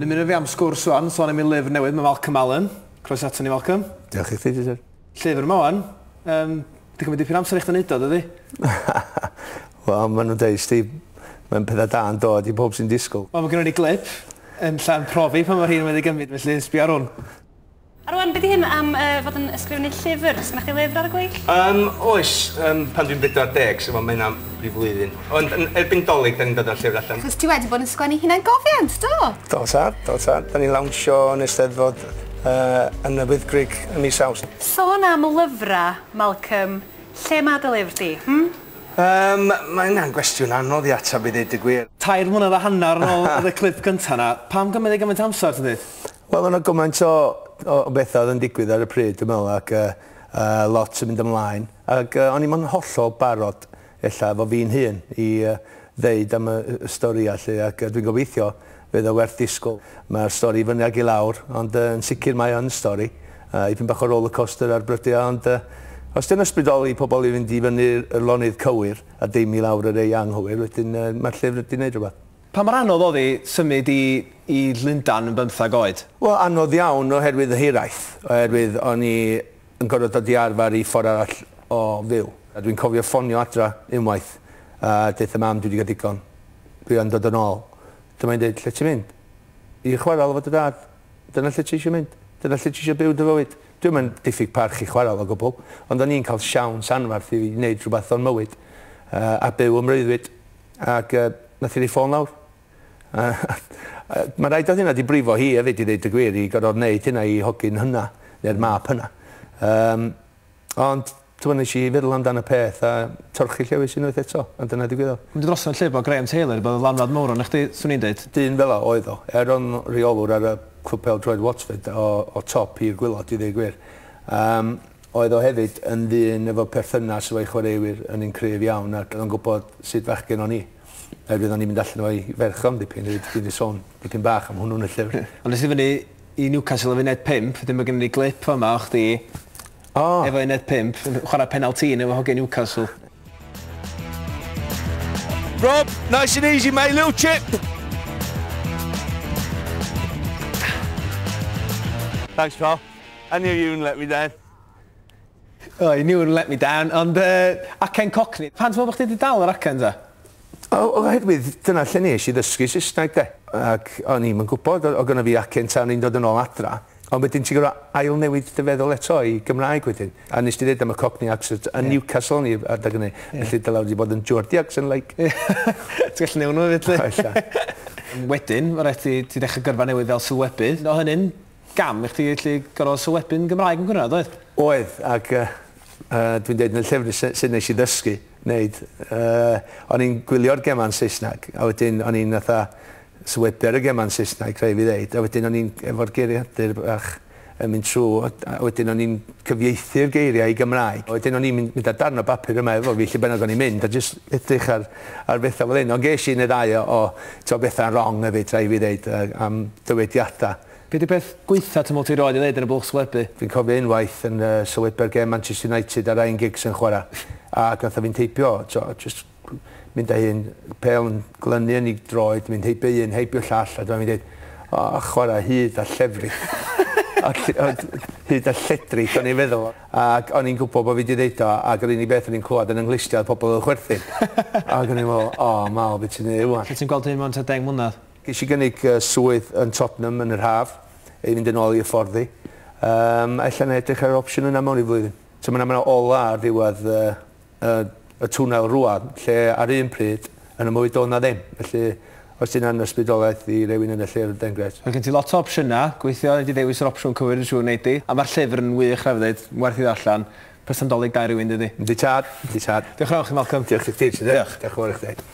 Dymunwn fi am sgwrs rwan, sôn am ei lyfr newydd, mae Malcolm Allen. Croeso ato ni Malcolm. Diolch i chdi Richard. Llyfr yma wan. Yym, di cymryd dipyn amser i chdi neud o, dydi? Wel, ma' nhw'n deud sti, mae'n pethau da yn dod i bob sy'n disgwyl. Wel, mae gynnon ni glip yn lla'n profi pa mor hir mae wedi gymryd, felly sbio ar hwn. A rwan, be di hyn am uh, fod yn ysgrifennu llyfr? Sgynna chdi lyfr ar y gweill? Um, oes, um, pan dwi'n 40, so mae hynna'n rhyw flwyddyn. Ond yn erbyn Dolig 'dan ni'n dod â'r llyfr allan. Achos ti wedi bod yn sgwennu hunangofiant, do? Do tad, do tad. 'Dan ni'n lawnsio yn Eisteddfod yy yn y Wyddgrug ym mis Awst. Sôn am lyfrau, Malcolm, lle mae dy lyfr di, hmm? Yym, mae hynna'n gwestiwn anodd i ateb i ddeud y gwir. Tair mlynedd a hanner yn ôl oedd y clip gynta' 'na. Pam gymryd e gymaint o amser, ti'n dweud? Wel o' 'na gymaint o o o betha' oedd yn digwydd ar y pryd dwi me'wl ac yy yy lot yn mynd ymlaen ac yy o'n i'm yn hollol barod ella efo fi'n hun, i ddeud am y storïau 'lly ac dwi'n gobeithio fydd o werth disgwyl. Mae'r stori i fyny ag i lawr, ond yn sicr mae o yn stori, a ipyn bach o rollercoaster ar brydiau, ond os 'di o'n ysbrydoli pobl i fynd i fyny'r lonydd cywir a dim i lawr yr ei anghywir, wedyn mae'r llyfr 'di neud rhywbeth. Pa mor anodd o'dd 'i symud i i Lundan yn bymthag oed? Wel anodd iawn oherwydd y hiraeth, oherwydd o'n i yn gorfod dod i arfer i ffordd arall o fyw. A dwi'n cofio ffonio adra unwaith a deutha mam dwi 'di cael digon, dwi yn dod yn ôl. Dyma hi'n deud, lle ti'n mynd? I chwarel efo dy dad? Dyna lle ti eisiau mynd? Dyna lle ti eisiau byw dy fywyd? Dwi'm yn diffyg parch i chwarel o gwbl, ond o'n i'n cael siawns anferth i wneud rhywbeth o'n mywyd a byw ym mreuddwyd. Ac nath hi roi ffôn lawr. Mae'n rhaid oedd hynna wedi brifo hi hefyd i ddeud y gwir, i gorfod wneud hynna i hogyn hynna, neu'r mab hynna. Um, ond ti'n nes i feddwl amdano y peth a torchi llewis unwaith eto, a dyna digwyddodd. Mynd dros yn lle bod Graham Taylor, bod lanwad mawr o'n chdi, swn i'n dweud. Dyn fel o oedd o. Er o'n reolwr ar y clwb pel droed Watford o, o top i'r gwylod i ddweud gwir. Um, oedd o hefyd yn ddyn efo perthynas efo'i chwaraewyr yn un cryf iawn ac oedd o'n gwybod sut fachgen o'n i. Fe fyddan ni'n mynd allan efo 'i ferch o am dipyn efyd dwi 'di sôn dipyn bach am hwnnw yn y llyfr. Ie. Ond es i fyny i Newcastle ar funud pump wedyn ma' gynnon ni glip fa' 'ma o chdi O! efo uned pump yn chwara penalty yn efo hogia Newcastle. Rob, nice and easy mate, little chip! Thanks pal. I knew you wouldn't let me down. O, oh, you knew and let me down, ond uh, acen cockney. Pan ti'n meddwl bod chdi wedi dal yr acen ta? O, oherwydd dyna lle nes i ddysgu Saesneg de. Ac o'n i'm yn gwybod, o gyda fi acen ta o'n i'n dod yn ôl adra. Ond wedyn ti'n gorau ail newid dy feddwl eto i Gymraeg wedyn. A nes ti ddweud am y Cockney accent yn yeah. Newcastle ni adag hynny. Yeah. Felly dyla wedi bod yn Geordie accent like. Ti'n gallu newid nhw fyd? Wedyn, mae rhaid ti, ti ddechrau gyrfa newydd fel sylwebydd. O hynny'n Gam i chdi allu gorfod sylwebu'n Gymraeg yn Gwynedd, oedd? Oedd, ac dwi'n deud yn y llyfr sut nes i ddysgu neud. O'n i'n gwylio'r gemau'n Saesneg, a wedyn o'n i'n fatha sylwebu ar y gemau'n Saesneg, rhaid fi ddeud, a wedyn o'n i'n efo'r geiriadur bach yn mynd trw, a wedyn o'n i'n cyfieithu'r geiriau i Gymraeg. Wedyn o'n i'n mynd â darn o bapur yma efo fi lle bynnag o'n i'n mynd, a jyst edrych ar ar bethau fel hyn. Ond ges i un neu ddau o o t'o' betha'n rong efyd rhai' fi ddeud yy am dywediada. Be' 'di peth gwaetha twmwl ti rioed 'di neud yn y bwlch sglebu? Fi'n cofio unwaith yn yy sylwebu'r gem Manchester United a Ryan Giggs yn chwara', a gatho fi'n teipio t'o' jyst mynd â un pêl yn glynu yn 'i droed, mynd heibio un, heibio llall a dyma fi'n deud O chwara' hud a llefrith. Hud a lledrith o'n i'n feddwl. Ac o'n i'n gwybod bod fi 'di ddeud o, ac yr unig beth o'n i'n clywed yn 'y nghlustiau oedd pobl yn chwerthin. Ac o'n i'n meddwl, 'O, Mal, be ti'n neud 'wan? Lle ti'n gweld dy hun mewn tua deng mlynedd? Ges i gynnig swydd yn Tottenham yn yr haf, i fynd yn ôl i hyfforddi. Ella 'na i edrych ar yr opsiwn yna mewn rhyw flwyddyn. Timod, mae 'na olau ar ddiwedd y, y twnnel rwan, lle ar un pryd, yn y mwy do na ddim. Felly, os ti'n angen ysbrydolaeth i rewyn yn y lle yn Dengres. Mae gen ti lot o opsiynau, gweithio i di ddewis yr opsiwn cywir yn siŵr nei di, a mae'r llyfr yn wych rhaid fi ddeud, werth i ddarllen, person dolig da i rywun dydi? Yndi tad, yndi tad. Diolch yn fawr i chi Malcolm. Diolch i chdi Richard. Diolch. Diolch yn fawr i chdi.